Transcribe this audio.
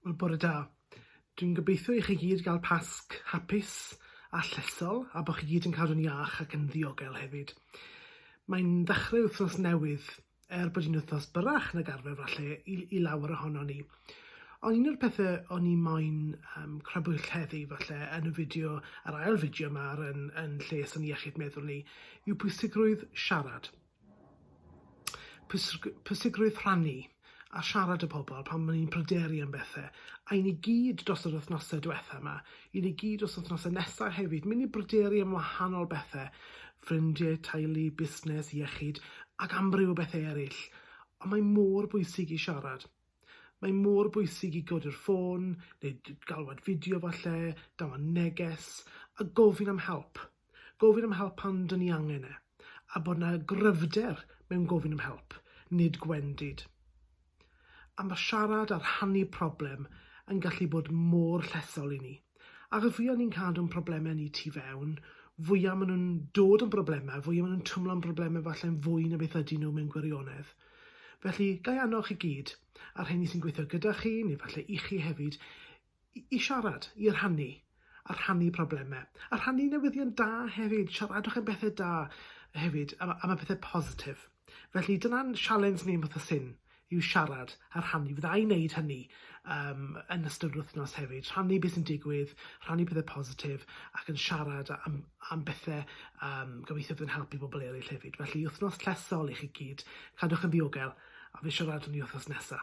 Wel, bore da. Dwi'n gobeithio i chi gyd gael Pasg hapus a llesol, a bod chi gyd yn cadw'n iach ac yn ddiogel hefyd. Mae'n ddechrau wythnos newydd, er bod hi'n wythnos byrrach nag arfer falle i, i lawer ohono ni. Ond un o'r pethau o'n i moyn um, crybwyll heddi falle yn y fideo, yr ail fideo yma yn, yn lles yn iechyd meddwl ni, yw pwysigrwydd siarad. pwysigrwydd rhannu a siarad â pobl pan o'n i'n pryderu am bethe, a i ni gyd dros yr wythnose dwetha 'ma, i ni gyd dros wythnose nesa hefyd, myn' i bryderu am wahanol bethe, ffrindie, teulu, busnes, iechyd, ac amryw o bethe eryll, ond mae mor bwysig i siarad. Mae mor bwysig i godi'r ffôn, neu galwad fideo falle, dangos neges, a gofyn am help. Gofyn am help pan dyn ni angen e, a bod 'na gryfder mewn gofyn am help, nid gwendid. A mae siarad a rhannu problem yn gallu bod mor llesol i ni. Ac y fwya ni'n cadw'n problemau ni tu fewn, fwya maen nhw'n dod yn broblemau, fwya maen nhw'n twmlo'n broblemau falle'n fwy na beth ydyn nhw mewn gwirionedd. Felly, ga i annog chi gyd, a'r rheini sy'n gweithio gyda chi, neu falle i chi hefyd, i, i siarad, i rhannu, a rhannu problemau. A rhannu newyddion da hefyd, siaradwch am bethau da hefyd, am, am y pethau positif. Felly dyna'n sialens ni yn Fath a Syn yw siarad a rhannu. Fydda i'n neud hynny yym yn ystod yr wythnos hefyd, rhannu be' sy'n digwydd, rhannu pethe positif ac yn siarad a- am am bethe yym gobeithio bydd yn helpu bobol eryll hefyd. Felly wythnos llesol i chi gyd, cadwch yn ddiogel a fi siarad â ni wythnos nesa.